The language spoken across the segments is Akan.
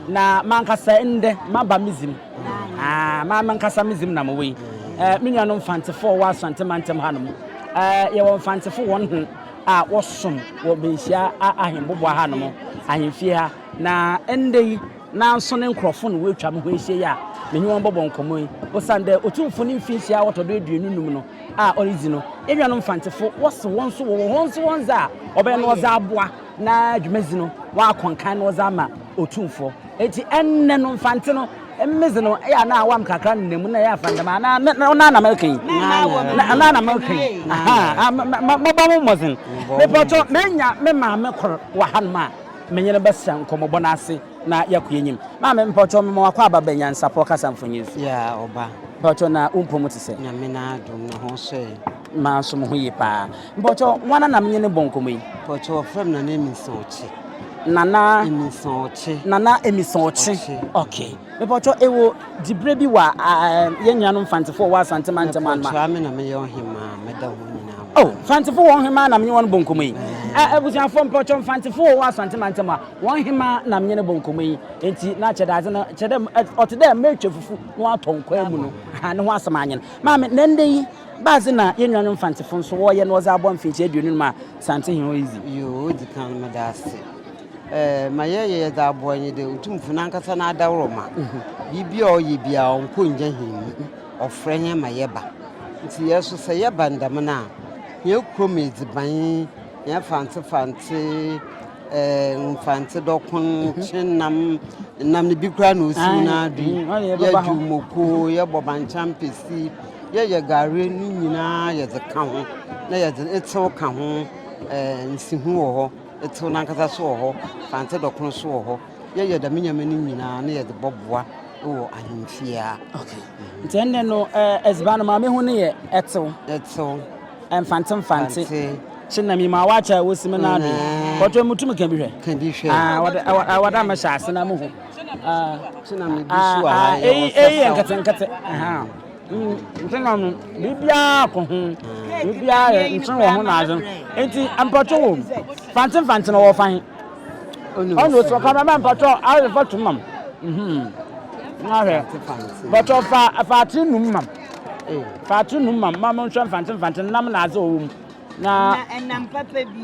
Na mankasa ndɛ maba me dzin, aah, mara mankasa me dzin na mowɔ yi. Eh, me nuanom Mfantsefo a wɔwɔ Asɔntse mantam ha no mu, eh, yɛwɔ Mfantsefo hɔn hen a wɔsom wɔ Benhyia Ahenboboa hanom, ahemfie ha, na ndɛ yi, Naaso ne nkorɔfo na woetwa mo ho ehyia yi a menye hɔn bɔbɔ nkɔmbɔ yi, osiandɛ Otumfo ne mfinhyia a ɔtɔ do eduonu num no a oridzi no, enuanom Mfantsefo wɔse hɔn so wɔwɔ hɔn dze hɔn dze a ɔbɛyɛ no ɔdze aboa na dwumadzi no wɔakɔ nkan na ɔdze ama Otumfo. Ntsi ndɛ no Mfantse no medze no eyɛ ana aɔam kakra nna mu na yɛafa no dɛm a na ɔno ara na mereka yi, na ɔno ara na mereka yi, ahaa, mobɔ mo mbɔdzen. Mepa wo kyɛw, menya me maame kor wɔ hanom a. Me nye no bɛsera nkɔmbɔbɔ no ase na yɛakɔ enyim. Maame, mpawokyɛw mema wo akwaaba bɛ nyansapɔ kasa mfonyin so. Yeah, ɔba. Mpawokyɛw na wo mpɔ mu tse sɛ? Nyame n'adom na ho so ɛ? M'ara so moho ye paa. Mpawokyɛw, woana na menye no bɔ nkɔmbɔ yi? Mpawokyɛw, wɔfrɛ me Nana Eminsah Ɔkye. Nana. Eminsah Ɔkye. Nana Eminsah Ɔkye. Ɔkye. Okay. Mepatwɔ ewo dibre bi wa yɛn nua nom Fantefo a ɔwɔ Asante mantam anma. Mepatwɔ ame na meyɛ ɔhemaa meda wɔn nyinaa ho. Oh Fantefo wɔ ɔhemaa na menye wɔn bɔ nkɔmɔ yi. Eh abusuafo mepatwɔ Fantefo ɔwɔ Asante mantam a wɔn hemaa na menye no bɔ nkɔmɔ yi enti na kyɛ dadze no kyɛ dɛ ɔte dɛ matwa fufu na watɔ nkwan mu no aha ne ho asɛm anyen. Maame na ndɛ yi badze na yɛn nuanom Fantefo nso wɔyɛ na wɔdze abɔ mfehyia aduonu num a Santehene hɔ redzi. Yoo odikan meda ase Ma yɛyɛ yɛdze aboa nye dɛ Otumfo nankasa n'adaworoma, biribi a ɔyɛ biara ɔnnkɔ nngya hɛn mu. Ɔfrɛ hɛn ma yɛba. Ntsi hɛn so sɛ yɛba no dɛm no a, hɛn kurom edziban, hɛn Fantse Fantse, Mfantse dɔkon, kyenam, nam no bi koraa na osiw n'ado yi, yɛdwow moko, yɛbɔ bankye ampesi, yɛyɛ gare, ne nyina yɛdze ka ho na yɛdze etsew ka ho. Nsiho wɔ hɔ. Etsew no ankasa so wɔ hɔ, Fantse dɔ kor so wɔ hɔ. Yɛyɛ dɛm ndzɛmba no nyina na yɛdze bɔboa wɔ ahemfie a. Okay. Ntsi ndɛ no edziban no Maame hu no yɛ etsew. Etsew. Mfantse mfantse. Fantse. Kyena minyim awakye a wosi me nan do. But ɔyɛ mutum ka bi hwɛ. Ka bi hwɛ. Ah, wɔde ɛwɔ wɔde ama hyɛ ase na muhu. Ah. Kyena me bi so a yɛ wɔ sasa. Eyi yɛ nketenkete. Aha. Nkyema no, biribiara kɔ ho. Biribiara yɛ nkyen wɔ ho na adze. Ntsi mpɔtɔ wɔ mu. Fantsen fantsen ɔwɔ fa he? Ɔno osi hɔ, camera man mpɔtɔ ayɛ photo ma m. Na hwɛ, mpɔtɔ fa fa atsen num ma m. Fa atsen num ma m ma monhwɛ mfantsen mfantsen nam na adze a ɔwɔ mu. Na ɛnam papa bi.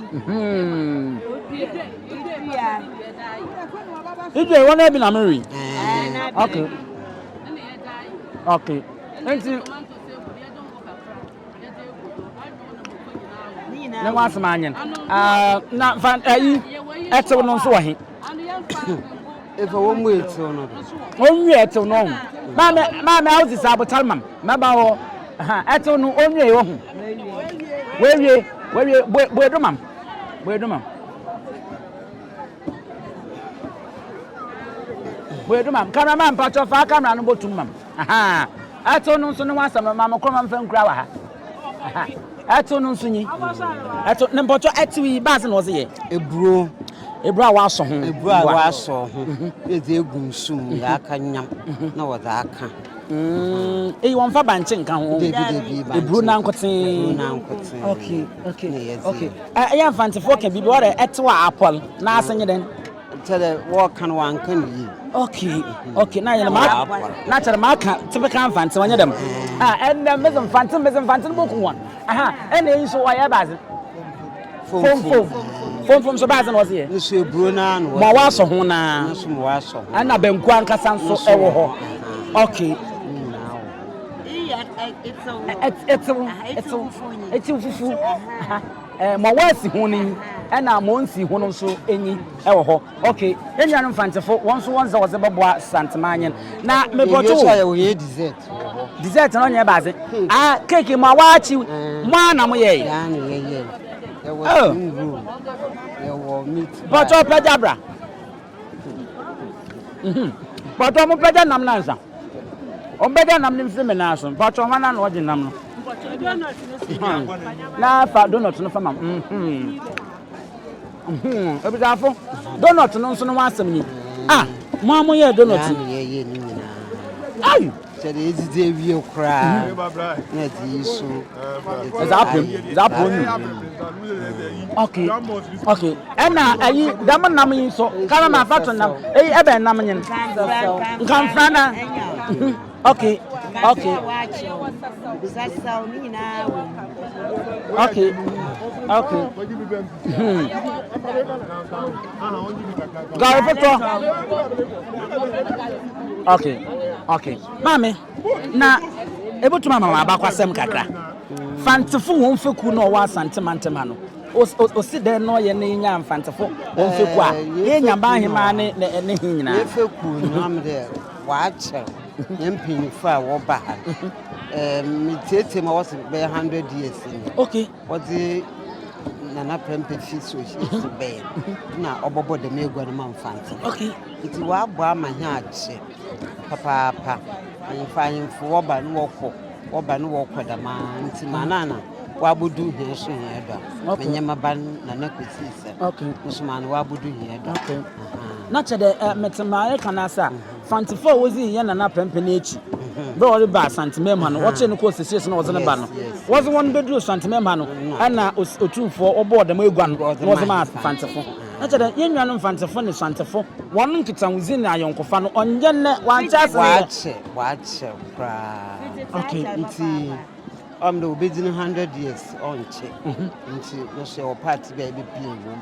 Idwe wɔn ebi na meri. Okay. Okay. Nti. Ne ho asɛm anyen. Ah, na fa ayi ɛtew no nso wɔ he. Efa wɔn mu etew no do. Wɔn mu etew no ho. Maame maame awo ti sa abotar mam mɛba hɔ ha ɛtew no wɔn mu eyi ho. Wɔawie wɔawie bue bue do mam bue do mam. Bue do mam kamera mam mpatsɔ fa kamera no bɔ tum mam. Ɛtew no nso ne ho asɛm no mam kɔ mam fɛn kura wɔ ha. Ɛtew no nso nyi. Ɛtew ne mpɔtɔ ɛtew yi baasi na ɔsi yɛ. Eburo. Eburo a wɔasɔ ho. Eburo a wɔasɔ ho. Mhm. Yɛdze egu nsu mu mhm. yɛaka nyam mhm. na wɔdze aka. Mm. Eyi wɔn fa bankye nka ho. Debi debi bankye. Eburo nankotsee. Eburo nankotsee. Okay okay okay. Ɛyɛ nfantefoɔ kɛ bibi wɔrɛ ɛtew a apɔl n'ase nye dɛn. kyɛdɛ wɔka no wanka no yie okay okay na yɛ ma na kyɛdɛ ma ka tebe ka mfante wɔnyɛ dɛm ha ɛnna mɛsɛ mfante mɛsɛ mfante no bɔku wɔn aha ɛnna eyi nso wɔyɛ baadze fomfom fomfom so baadze na wɔdze yɛ nso eburo naa na wɔdze wɔasɔ ho naa nso mo wɔasɔ ho ɛnna bɛnku ankasa nso ɛwɔ hɔ okay ɛtew ɛtew ɛtew fufuo Mɔ wɔasi ho no nyi na mɔ onnsi ho no so nyi wɔ hɔ. Ok, yɛn nuanom Mfantsefo, wɔn nso wɔn dze wɔdze bɔboa Santmanyin. Na mebɔto wo. Dessert no ɔnnyɛ ebɛadze. Ah, cake mɔ a wɔakye, mɔ ara na moyɛe? Oh. Bɔto ɔpɛ gya bra. Mpatsɔ ɔmo bɛgya nam no ansa. Ɔmo bɛgya nam no mfiri me nan so. Mpatsɔ hwan na ɔgye nam no? Na fa donut no fa ma. Ebusuafo, donut no nso no ho asɛm ni. Ah, mo a mo yɛ donut. Ai! sɛ deɛ ɛdidi awie koraa mhm. na ɛde yi so ɛdze apem ɛdze apem onyi okay okay ɛna ayi dɛm nam yi nso kala na afa to nam eyi ɛbɛn e nam nyin nkanfra na mhm. okay okay okay okay. Hmm. Gari foforɔ. Okay, okay. Maame, na ebutuma ma wɔn abakwasɛm kakra. Fantefo wɔn fekuo na ɔwɔ asante mantam ha no. Osi dɛn na ɔyɛ na yɛnya mfantefo wɔn fekuo a yɛnya baa hemaa ne ne he nyinaa. Yɛ fekuo no am dɛ wɔakyɛw yɛn mpanyinfo a wɔba ha. Metietie ma wɔsi bɛyɛ hundred years ni. Okay. Ɔdze Nana Prempeh fi so edzi bɛn na ɔbɔbɔ dɛm egua no ma Mfantse. Ntsi ɔabɔ ama hɛn akyɛ papaapa. Ahemfo ahemfo wɔba na wɔkɔ, wɔba na wɔkɔ dɛmara ntsi ma ana ana ɔabodu hɛn so hɛn do a, menye me ba no Nana Kwesi Isah no so ma ana ɔabodu hɛn do a. Ahaa. Na kyerɛ dɛ metse mbrɛ ereka no ase a, Santsefo a wodzii hɛn nana pɛnpɛn no ekyir ber a ɔreba Asantsemamha no, wɔkyeree no kɔɔ Sesies na wɔdze no baa no. Wɔdze hɔn bedur Santsemamha no, nna Otumfoɔ wɔbɔɔ dɛm egua no na wɔdze maa Mfantsefo. Na kyerɛ dɛ, hɛn nuanom Mfantsefo ne Santsefo hɔn nkitahodzi na ayɔnkofa no, ɔnnyɛ ndɛ, wɔankyɛ ase ndɛ. Wɔakyɛ, wɔakyɛ koraa. Ntsi ɔwɔ mu dɛ wobedzi no hundred years, ɔnnkye. Ntsi no so yɛwɔ part bi a yɛbepia wɔ mu.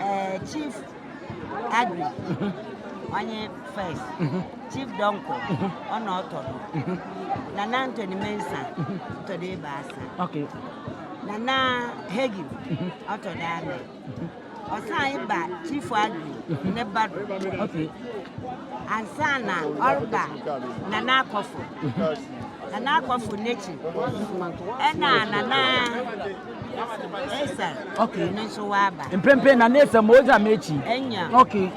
eh, chief agri ɔnye first chief donko ɔna ɔtɔ do nana ntoni mensa ɔtɔ do ebaasa nana hegi ɔtɔ do anɛ ɔsan ba chief agri ne ba do ansa na ɔreba nana akɔfo Nana akɔfo n'ekyir na Nana Esa okay. no nso ɔaba. Mprempren Nana Esa ma odzi ama ekyir. Enya. Okay.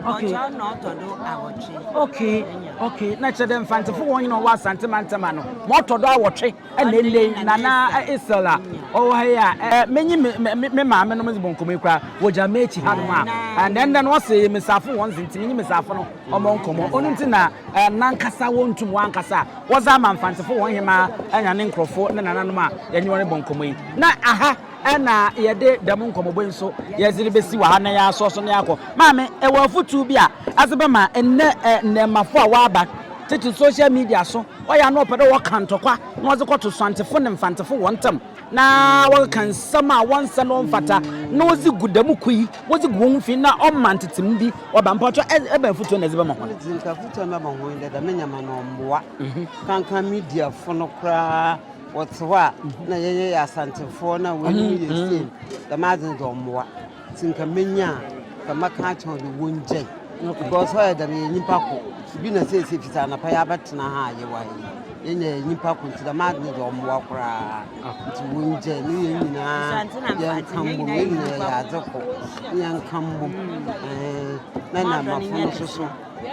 Okay. Ɔkyɛw na ɔtɔ do awɔtwe. Okay. Enya. Okay. Na kyerɛ dɛ Mfantsefo wɔn nyina ɔwɔ Asante mantam ano ma ɔtɔ do awɔtwe na enei Nana Esel a ɔwɔ ha yi a eh, menye me maame nom dze bɔ nkɔmmɔ yi koraa wɔgyina m'ekyir hanom a, na ndɛ no ɔse Mesafo wɔn dze ntsi menye Mesafo no wɔn nkɔmmɔ. Ɔno nti na nankasa wɔntum wɔn ankasa a wɔdze ama Mfantsefo hɔn hemaa na ne nkorɔfo ne nananom a yɛnye hɔn robɔ nkɔmmɔ yi. Na aha na yɛdze dɛm nkɔmbɔbɔ yi so yɛdze rebesi wɔ ha na yɛasoa so na yɛakɔ. Maame, ewɔ afotu bi a adze bɛma ndɛ ndaemafo a wɔaba tsetse social media so, ɔyɛ a na wɔpɛ dɛ wɔka ntɔkwa na wɔdze kɔto Suantsefo na Mfantsefo hɔn ntamu? na wɔkeka nsɛm a wɔnnsɛ na ɔmmfata na wɔdze gu dɛm ku yi, wɔdze gu hɔnho fi na ɔma ntsetsem bi ɔba. Mpaabcso, ebɛn afotu na edze bɛma hɔn? Medze afotu a mɛma hɔn nye dɛ, dɛm ndzɛmba no ɔmmboa. Kankan mediafo no koraa wɔtse hɔ a nna yɛnnyɛ yɛ Asantefoɔ na hɔn enyi yɛ same, dɛm adze no dze ɔmmboa. Nti nka menya a nka mɛka akyerɛ wɔn dɛ wɔngyae. Because ɔyɛ dɛn no yɛ nyimpa kor. Bi na siesie fitsi anapa yi abɛtsena ha a yɛwɔ ha yi. Yɛn nyinaa yɛ nyimpa kor ntsi dɛm adze no dze ɔmboa koraa. Ntsi wɔngyae no yɛn nyinaa yɛnka mbom, yɛn nyinaa yɛyɛ adze kor na yɛnka mbom eeh na Namafo no so so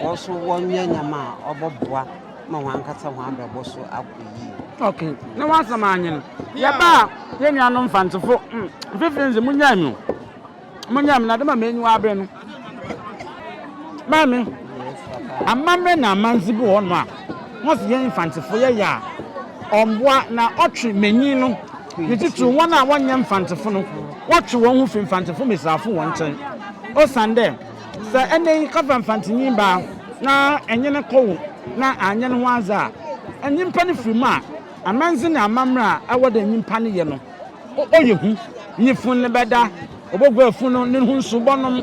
wɔso wɔnyɛ ndzɛmba a ɔbɔboa. ma hɔn ankasa hɔn abrabɔ so akɔ yie. Ok, na w'asɛm anye no. Yɛba a, yɛn nuanom Mfantsefo, mfifir ndze monyaa me o, monyaa me na dɛm ma m'enyiwa aber no, Maame, amamber na amandze bi wɔ hɔnom a wɔse yɛn Mfantsefo yɛyɛ a ɔmmboa na ɔtwe mbanyin no, ne tsitsir hɔn a wɔnnyɛ Mfantsefo no, wɔtwe hɔnho fi Mfantsefo mbasiafo hɔn nkyɛn osiandɛ, Sɛ ɛnnɛ yi kafa mfantsenyin baa na enye no kɔ wo na annyɛ no ho adze a, nyimpa no fir mu a, amandze na amamber a ɛwɔ dɛ nyimpa no yɛ no, ɔyɛ hu. Nye fun no bɛda, oboguar fun no, no ho nsu bɔnom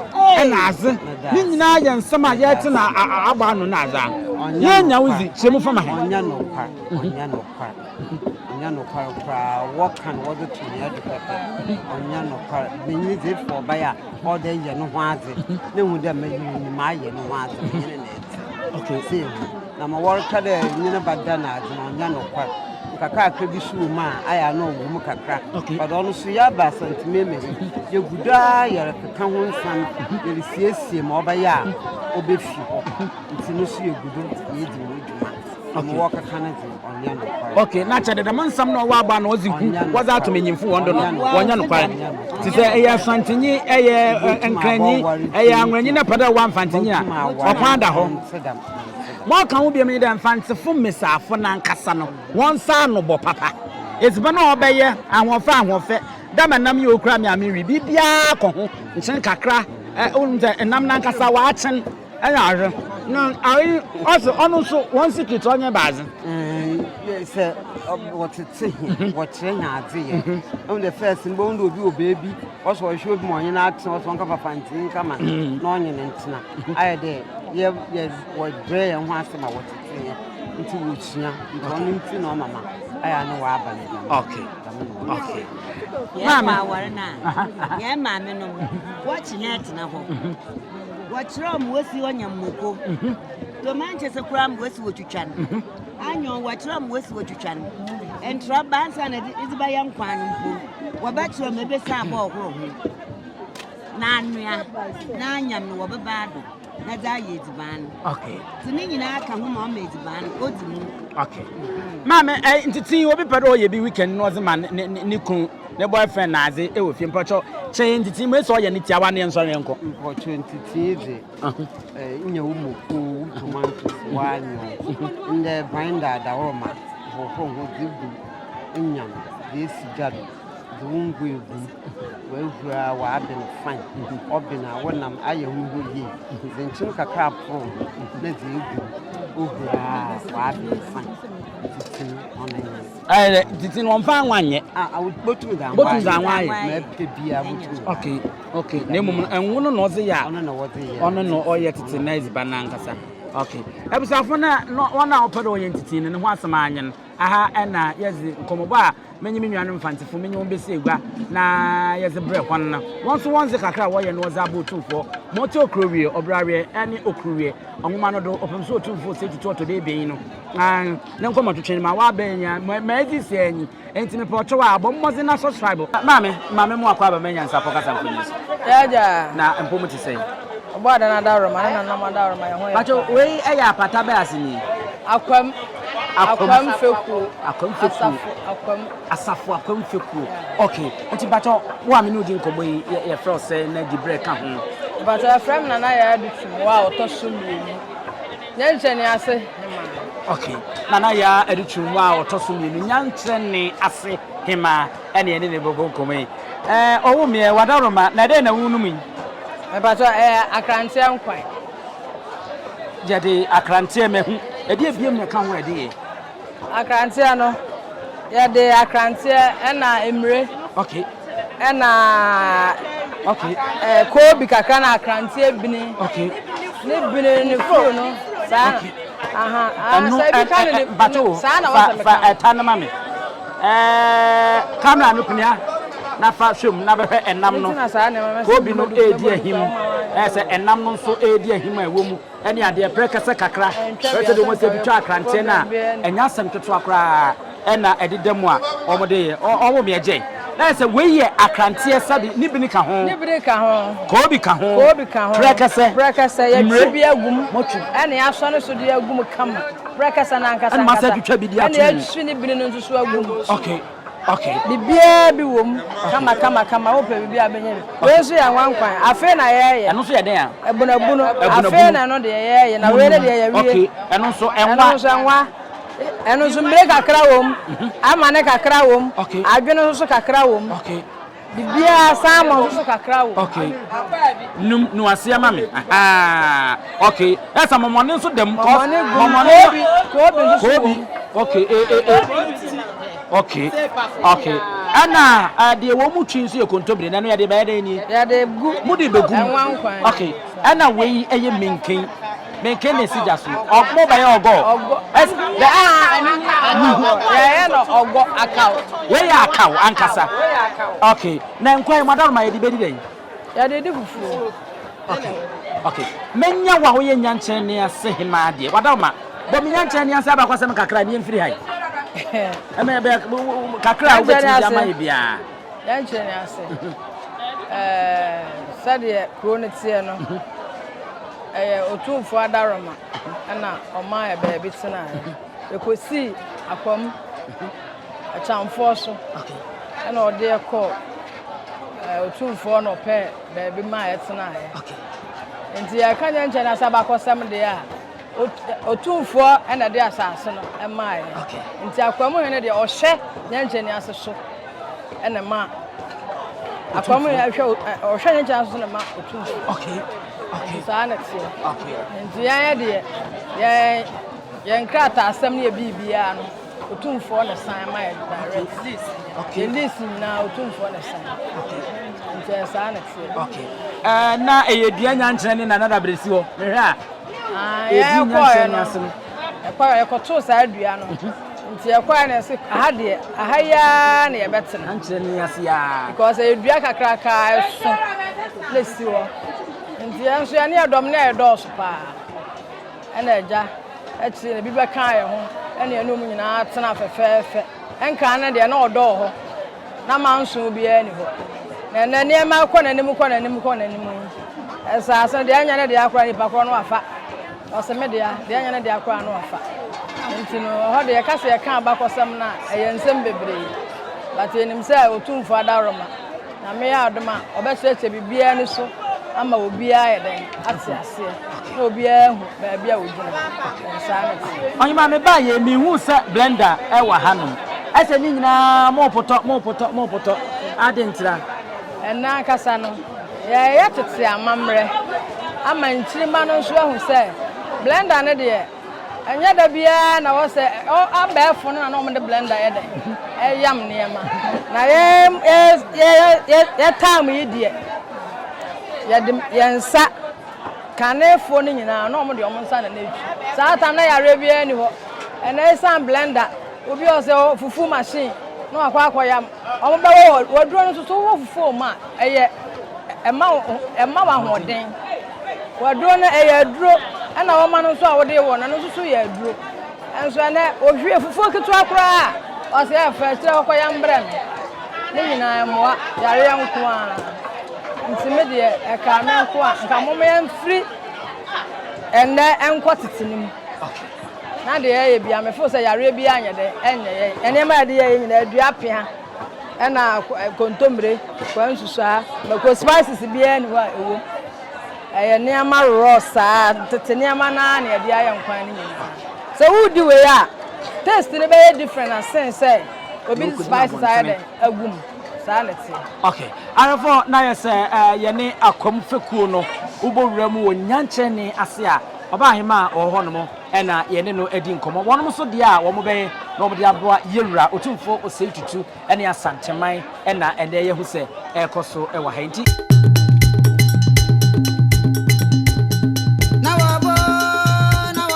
na adze. Ne nyina yɛ nsɛm a yɛtse na abɔ ano na adze a. Yenya wo dzi, kyerɛ mu fa ma hɛn. Ɔnnyɛ nokwar koraa, wɔka no wɔdze to hɛn do pɛpɛ. Ɔnnyɛ nokwar. Banyin dze ef ɔ ɔbaa a, ɔwɔ dɛ eyɛ no ho adze na ehu dɛ me yer yi mayɛ no ho adze, menye no na etse. Sɛ ehu. Na ma wɔreka dɛ enye no bɛda na adze no, ɔnnyɛ nokwar. Nkakrankra bi so wɔ mu a, ayɛ a nna ɔwɔ mu kakra. But ɔno so yɛaba Asantse Memes no, yegu do ara yɛrekeka ho nsɛm, yerisiesie ma ɔbɛyɛ a obefi hɔ. Ntsi no so yegu do yeridzi ho dwuma. ok na kyɛ dɛ dɛm nsɛm na ɔwɔ aba na ɔdze hu wɔdze ato manyimfo wɔn do no wɔnyɛ nokwar te sɛ ɛyɛ asantsenyi ɛyɛ nkranyi ɛyɛ anwranyi na pɛ dɛ ɔwɔ amfantsenyi a ɔkwan da hɔ ma ɔka ho biom nye dɛ mfantsefo mbesiafo nankasa no wɔn nsa ano bɔ papa edziban a ɔbɛyɛ ahoɔfɛ ahoɔfɛ dɛ ma nam yi okura me a menwe biribiara kɔ ho nkyen kakra ɛ wonim sɛ nam nankasa wɔakyen. Ɛna ahwɛ na ayi ɔsɛ ɔno nso wɔn sikit ɔnyɛ baadze. Ɛɛ sɛ wɔtete he mhm. wɔkyerɛ he adze yɛ. Mhm. Ɛmu de fɛs no bɛhu de obi wɔ beebi ɔsɛ ɔhwɛ obi ma ɔnye no atena ɔsɛ ɔnka papa ntini kama mhm. na ɔnye no ntena. Ayɛ dɛ yɛ yɛ wɔbrɛ yɛn ho ase ma wɔtete yɛ nti wɔsua nti ɔno nti na ɔmama ayɛ ne wɔaba ne dɛm. Okay. Okay. Yɛn maame no yɛn maame no wɔkye na ɛtena hɔ. Wɔkyerɛw Mose ɔnya mmoko. Toma nkyɛ sɛ koraa Mose wɔtwitwa no. Anyɔn wɔkyerɛw Mose wɔtwitwa no. Ntra ba ansa na ɛde ba yɛ nkwan no mpo. Wɔbɛkyerɛw ma ebe san bɔ ɔhoro ho. Na anoa na anyam no wɔ beba do na dze ayɛ edziban no. Okay. Ti ne nyinaa ka ho ma ɔma edziban no odzi mu. Okay. Maame, eh, ntsetse obi pɛ dɛ ɔyɛ bi weekend na ɔdze ma ne ne ne kun. Ne boyfriend nadze wɔ fie mpɔtɔ kyɛɛ ntsitsii mu esi ɔyɛ ne tiawa ne yɛ nsɔ yɛn nkɔ. Mpɔtɔ ntsitsii dze eh nyɛ wo moko wo tomatoes w'anyew ndɛ grinder dawɔrɔma hohoro ho dze gu enyiam dze esi gya do dze wo ngo egu mu w'ehura w'aben fine ɔben a wo nam ayɛ ho hɔ yie dze nkyen kakra porow ho na dze egu mu ohura a w'aben fine ntsitsii ɔno nye no. Ɛɛ dɛ titi no wɔmfa anwa nyɛ. Ah, ah botum dza anwa. Botum dza anwa ayɛ. Na ɛpɛ bia botum. Okay, okay. Na emu no ɛnwo no na ɔdze yɛ a. Ɔno na ɔdze yɛ. Ɔno na ɔyɛ titi na edziban na ankasa. Okay. Ebusafo na wɔn a wɔpɛ dɛ wɔyɛ titi no ne ho asɛm anyɛ no. Aha ɛna yɛdze nkɔmɔbɔ a menye me nuanom mfantsefo menye wɔn besi egua na yɛdze brɛ hɔn no. Wɔn nso wɔn dze kakra a wɔyɛ no wɔdze abɔ otumfoɔ. Ma ɔte okuro wie, ɔbra wie, ɛne okuru wie. Ɔnwoma no do, ɔpem so otumfoɔ sɛ tutu ɔtɔ dɛ ebien no. Ne nkɔmɔ twetwe no ma w'abɛn nya ma ma edzi sɛ anyi. Enti me pɛ ɔkyɛw a, bɔ mmɔdzen na subscribe. Maame, ma me mmoa kɔ aba manya nsapɔ kasa mfonyin so. Yɛagya. Na mpo mo te sɛn? Ɔbɔ adan adawroma ne nananom adawroma yɛn ho yɛ paa. Pacho, wei yɛ apata bɛ ase nie? Akwam. Akwam. Akwam fekuo. Akwam fekuo. Asafo Akwam. Asafo Akwam fekuo. Yeah. Okay. Nti pacho, wo a me ne wo di nkɔmɔ yi yɛ yɛ frɛ wo sɛn na di brɛ ka ho? Pacho, yɛfrɛ me Nana Yaya Dutum, wo a ɔtɔ so mmienu. Nyankyerɛ ne ase hemaa. Ok, Nana Yaa Adutwum a ɔtɔ so mmienu, Nyankyerɛ ne ase hemaa ɛne yɛne no rebɛbɔ nkɔmmɔ yi. Ɛɛ ɔwo meɛ, w'adaworoma, na dɛn na worenom yi? Mpakyɛw, ɛyɛ akranteɛ nkwan. Yɛde akranteɛ, mahu. Ɛdeɛ biom na ɛka ho a ɛde yɛ? Akranteɛ no, yɛde akranteɛ na mmire okay. na okay. Eh, koobi kakra na akranteɛ bini okay. ne bini ne furo no saa okay. aha ah, ɛno eh, bato wo fa ɛta no ma me kamera no pnia na fa hwɛm na bɛhwɛ ɛnam no koobi no ɛredi ahim ɛsɛ ɛnam no nso ɛredi ahim a ɛwɔ mu ne adeɛ berɛ kɛsɛ kakra, berɛ sɛdeɛ wɔn sɛ ebi twa akranteɛ no a, ɛnyɛ asɛm ketewa koraa na ɛde da mu a wɔde yɛ. Ɔwɔ mi ɛgye, na yɛ sɛ wei yɛ akranteɛ sɛde ne bini ka ho, ne bini ka ho, koobi ka ho, koobi ka ho, berɛ kɛsɛ, berɛ kɛsɛ, yɛtwi bi agum, mɔtwi, ɛne asɔ ne so de agum kama, berɛ kɛsɛ na ankasa ankasa, ɛne atwi ne bini no nso so agum, okay, Okay. Biribiara bi wɔ mu kama kama kama wopɛ biribi a bɛnya bi. Wei nso yɛ nwankwan. Afei na yɛɛyɛ. Ɛno nso yɛ dɛn a? Ɛbunabunu. Afei na ɛno deɛ yɛɛyɛ na wei ne deɛ yɛwie. Okay. Ɛno nso ɛnwa. Ɛno nso ɛnwa. Ɛno nso mmire kakra wɔ mu. Mhm. Amane kakra wɔ mu. Okay. Adwene nso kakra wɔ mu. Okay. Biribiara san ma wo so kakra o. Okay. Num no aseɛ ma me. Ahaa. Okay. Ɛsa mɔmɔne nso dam. Mɔmɔne gu. Mɔmɔne bi. Koobi nso wɔ. Koobi. Okay. E e e. Okay. Okay. Ɛna deɛ wɔn mu twi nso yɛ kontomire. Nanu yɛde bɛyɛ dɛ nie. Yɛde gu. Mo de bɛ gu. Ɛnwa nkwan. Okay. Ɛna wei ɛyɛ minkin. Menke ne si gya so. Ɔg mo bɛyɛ ɔgɔ. Ɔgɔ S the a ɛne ne ɔgɔ. Yɛayɛ no ɔgɔ akaw. Wei yɛ akaw ankasa. Wei yɛ akaw. Okay. Na nkwa yi mo adanoroma yɛde bɛdi dɛn? Yɛde di fufuo. Okay. Okay. Mɛnya wo a woyɛ nnyankyɛn ne ase hemaa deɛ. W'adanoroma, bɔ me nnyankyɛn ne ase abakɔsɛm kakra ne yɛmfiri ha yi. Ɛmɛ bɛ kakra a wobɛtumi de ama yɛ biara. Nnyankyɛn ne ase. Ɛɛ sɛdeɛ kuro no teɛ no. Ɛyɛ Otumfoɔ adaworoma na ɔmaa yɛ baabi tenaeɛ. Yɛkɔsii Akwam Akyamfoɔ so na ɔde yɛ kɔɔ Otumfoɔ na ɔpɛɛ baabi maa yɛ tenaeɛ. Nti yɛka nyɛ nkyɛn asa bakɔsɛm deɛ a, Otumfoɔ na ɛde asase no maa yɛ. Nti Akwam hene deɛ ɔhwɛ nyɛ nkyɛn ase so na ma Akwam hene hwɛ ɔhwɛ nyɛ nkyɛn ase so na ma Otumfoɔ. Okay. Saa na teɛ. Okay. Nti yɛn yɛ deɛ yɛn yɛn krataasɛm ne yɛ biribiara no otumfoɔ na san ma yɛ direct. Okay. Yɛn lease nyinaa otumfoɔ na san. Okay. Nti yɛn saa na teɛ. Okay. Ɛɛ na ɛyɛ dua nyankyerɛ ne nana dabrɛ si hɔ mehwɛ a. Ah, yɛn kɔɛ no ɛkɔɛ yɛkɔtoo saa dua no. Mhm. Nti yɛkɔɔɛ no yɛse aha deɛ aha yi ara na yɛbɛtena. Ankyerɛ no yɛn ase ara. Because ɛyɛ dua kakraka a ɛso na ɛsi hɔ. Nti yɛn nso yɛne yɛn dɔm no yɛ dɔɔso paa. Ɛna agya akyire no ebi bɛkaa yɛn ho ɛna yɛne wɔn nyinaa tena fɛfɛɛfɛ. Ɛnkan no deɛ na ɔdɔ wɔ hɔ na manso biara ni hɔ. Na ɛnɛ nneɛma kɔ n'anim kɔ n'anim kɔ n'anim yi. Ɛsaase no deɛ ɛnyɛ ne dea koraa nipa korɔ no wafa. Ɔse me dea, dea nyɛ ne dea koraa no ɔfa. Nti no ɛhɔ de yɛka se yɛka abakɔsɛm no a ɛyɛ nsɛm bebree but yɛnim sɛ Otumfoɔ adaworoma Nyame yɛ adom a ɔbɛkyerɛkyerɛ biribiara ani so ama obiara ayɛ dɛn ate aseɛ na obiara ahu baabi a ɔgyina. Ɛɛ saa ne te. Ɔhema me baa yɛ me hu sɛ blender ɛwɔ ha nom ɛsɛ ne nyinaa mo potɔ mo potɔ mo potɔ adentra. Ɛnɛ ankasa no Yɛreyɛ tete amammerɛ ama nkyirimma no nso ahu sɛ blender no deɛ ɛnyɛ da biara na wɔ sɛ abɛɛfo no na na wɔde blender yɛ dɛ ɛyam nneɛma na yɛ yɛ yɛ yɛ yɛ time yi deɛ yɛde yɛn nsa kanefoɔ no nyinaa na wɔn deɛ wɔn nsa na na etwi saa tam na yareɛ biara ni hɔ ɛna esan blender obi ɔsɛ fufu machine na wakɔ akɔ yam. Wɔbɛwɔ wɔ w'aduro no so. So wowɔ fufuo wɔ mu a, ɛyɛ ɛma wo ɛma wo ahoɔden. W'aduro no ɛyɛ aduro ɛna wɔma no nso a wode wɔ no ɛno nso so yɛ aduro. Ɛnso ɛnɛ ohwie fufuo ketewa koraa a ɔsɛ ɛfɛ kyerɛ wɔkɔ yɛ mbrɛ me. Ne nyinaa ɛmoa yareɛ nko a. Nti me deɛ ɛkaa me nko a nka momma yɛmfiri ɛnɛ ɛnkɔ tete no mu. Na deɛ ɛyɛ bia me feel sɛ yareɛ biaa nyɛ dɛ ɛnyɛ yɛn. Nneɛma a yɛde yɛɛyɛ nyinaa adua pea ɛna kontomire, kwansusuaa, mako, spices biaa nni hɔ a ɛwom. Ɛyɛ nneɛma raw saa, tete nneɛma no ara na yɛde ayɛ nkwan no nyinaa. Sɛ woredi wei a, taste no bɛyɛ different asen sɛ obi de spices ayɛ dɛn agu mu. Saa na ɛteɛ. Okay. Ayefor, na ayɛ sɛ yɛne Akwam fekuo no wobɔ wura mu wɔ Nyankyerɛnee ase a. Ɔbaahemaa a ɔwɔ hɔnom na yɛne no adi nkɔmmɔ. Wɔnom nso deɛ a wɔbɛyɛ na wɔde aboa Yɛwura Otumfoɔ Osei Tutu ne Asanteman na ɛnnɛ yɛahu sɛ ɛrekɔ so wɔ ha yi nti.